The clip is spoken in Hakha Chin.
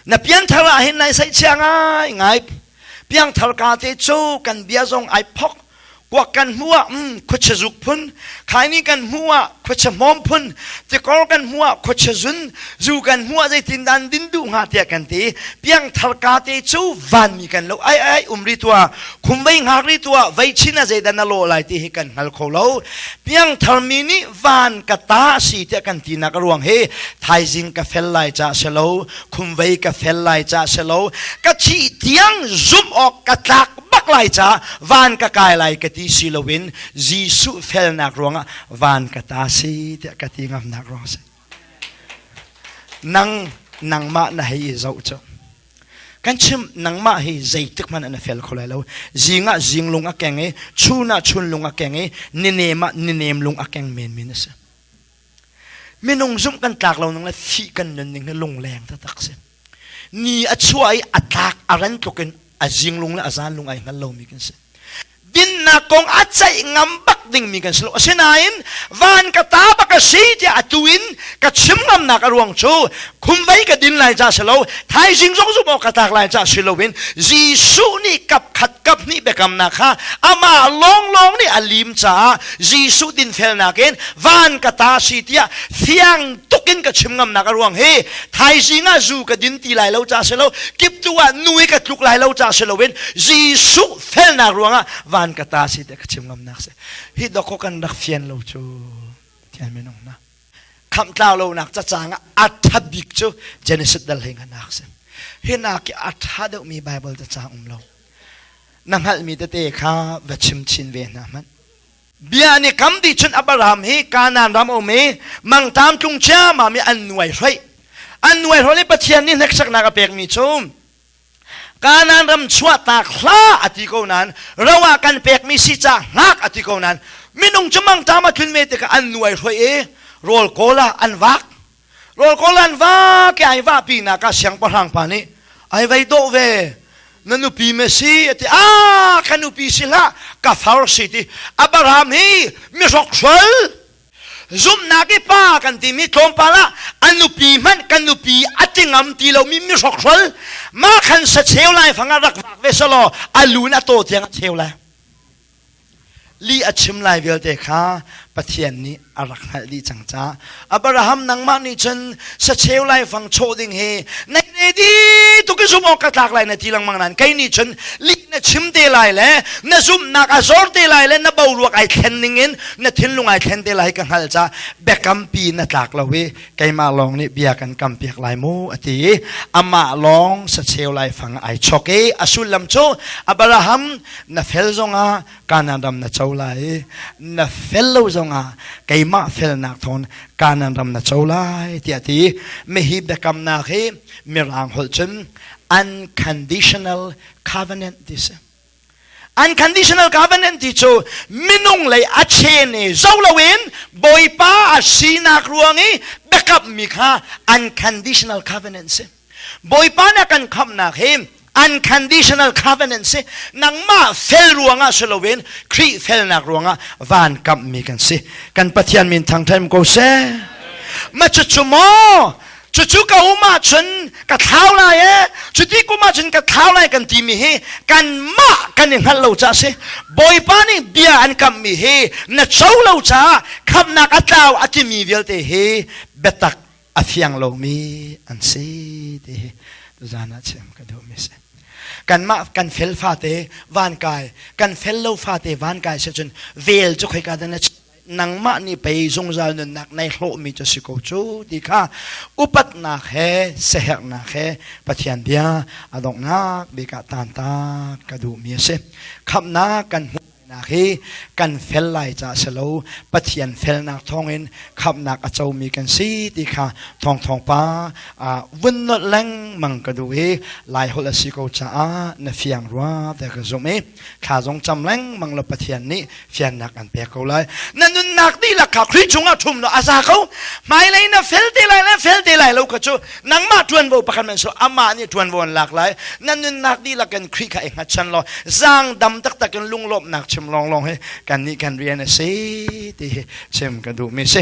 na pianthar ah hin nai saihchia ngai ngai piangthar ka te cu kan bia zong ai phok kuak kan hmu ah mm, khuache zuk phun khaini kan hmu ah khuache hmawm phun tikor kan hmu ah khuache zun zu kan hmu ah zeitin dan din du nga tia kan ti piangthar ka te cu van mi kan lo ai ai umri tua khumvei ngak ri tua vei chin a zeidan a lo lai ti hi kan ngal kho lo piangthar mi nih van ka ta si tiah kan tinak ruang hi thaizing ka fel lai ca se lo khumvei ka fel lai ca se lo ka thih tiang zumh awk ka tlak bak lai ca van ka kai lai ka ti si loin Jesuh felnak ruangah van ka ta si tiah ka ti ngamnak ruang si nang nangmah na hei i zoh cu Kan chim nangmah hi zeitik hmanh na fel kho lai lo. Zing ah zing lung a keng i chun ah chun lung a keng i ninem ah ninem lung a keng menmen a si. Minung zumh kan tlak lo nung le fi kan nun ning lungleng taktak si. Ni a chua i a tlak a ran tluk in a zing lung le a zan lung ai hngal lomi kan si. dinnak kong a ceih ngam bak dingmi kan si lo asinain van ka ta bak ka si tiah atu in ka chim ngamnak a ruang cu khum vei ka din lai ca si lo thaizing zong zumh awk ka tak lai ca si loin Jesuh nih kap khat kap hnih biakamnak kha amah lawnglawng nih a lim caah Jesuh dinfelnak in van ka ta si tiah thiang tuk in ka chim ngamnak a ruang hi thaizing ah zu ka din ti lai lo ca si lo kip tu ah nu i ka tluk lai lo ca si loin Jesuh felnak ruangah van ka ta si ti ka chim ngam nak si hi doko kan rak fian lo cu tian minung na khamtlau lonak cacang ah atha bik cu Genesis dal hing anak si hi nak ki atha deuh mi Bible cacang um lo na hngal mi tete kha va chim chin ve hna hmanh bia ni kam di chun Abraham hi Kanan ram om i mangtam tlung chiama mi an nuai hrei an nuai hrol i Pathian ni hnek saknak a pek mi cu Kanan ram chuahtak hla a ti ko nan ro ah kan pekmi si ca hngak a ti ko nan minung cu mangṭam a tlun ve tikah an nuai hruai i rawl kawl ah an vak rawl kawl an vak i ai vah pinak ah siangpahrang pa nih ai vei dawh ve na nupi me si a ti a ka nupi si hlah ka far si ti Abraham hi mihrok hrual zumhnak i pa kan timi tlawmpal ah a nupi hmanh kan nupi a tingam ti lomi mi hrokhrol mah khan sa cheu lai fangah rak vak ve selaw a lun a taw tiang a cheu lai li a chim lai vialte kha pathian nih a rak hngalh dih cang ca abraham nangmah nih cun sacheu lai fang chaw ding hi nei re di tuk in zumh awk ka tlak lai na ti lengmang nan kei nih cun li na chim te lai le na zumhnak a zor te lai le na boruak ai thlen ning in na thinlung ai thlen te lai ka hngal ca biakam pi na tlak lo i keimah lawng nih bia kan kam piak lai mu ati ama lawng sacheu lai fang ai chok i a sullam cu abraham na fel zong ah kanan ram na cho lai i na fel lo zongah keimah felnak thawn kanan ram na cho lai tiah ti mehi biakamnak hi mirang holh cun unconditional covenant ti si unconditional covenant ti cu minung lei a chen i zo loin bawipa a sinak ruang i biakap mi kha unconditional covenant si Bawipa na kan khamhnak hi unconditional covenant si nangmah fel ruangah si loin Khrih felnak ruangah van kamhmi kan si kan Pathian min thangthaim ko seh ma cucu maw cucu ka um ahcun ka thlau lai e cuti kum ahcun ka thlau lai kan timi hi kanmah kan i hngalh lo ca si bawipa nih bia an kamhmi hi na co lo caah khamnak a tlau a timi vialte hi biatak a fiang lomi an si ti hi tuzaan ah chim ka duhmi si kanmah kan fel fate van kai kan fel lo fate van kai se cun vel cu khoi ka dan nangmah ni pei zungzal nunnak nei hlawhmi cu si ko cu ti kha upatnak he sehernak he pathian bia a donghnak bika tan ta ka duhmi a si khamnak kan hmuh Nak hi kan fel lai ca si lo Pathian felnak thawngin khamnak a comi kan si ti kha thawng thawng pa vun not lengmang ka du i lai holh a si ko caah na fiang rua te ka zumh i thla zong cam lengmang la Pathian nih fiannak an pek ko lai na nunnak dihlak kha Khrih chungah ṭhum law a za ko hmailei na fel te lai le fel te lai lo ka cu nangmah ṭuanvo pakhat men su amah nih ṭuanvo an lak lai nan nunnak dihlak kan Khrih kha i hngatchan law zaang dam taktak in lunglawmhnak chim lawnglawng hi kan nih kan rian a si ti hi chim ka duhmi si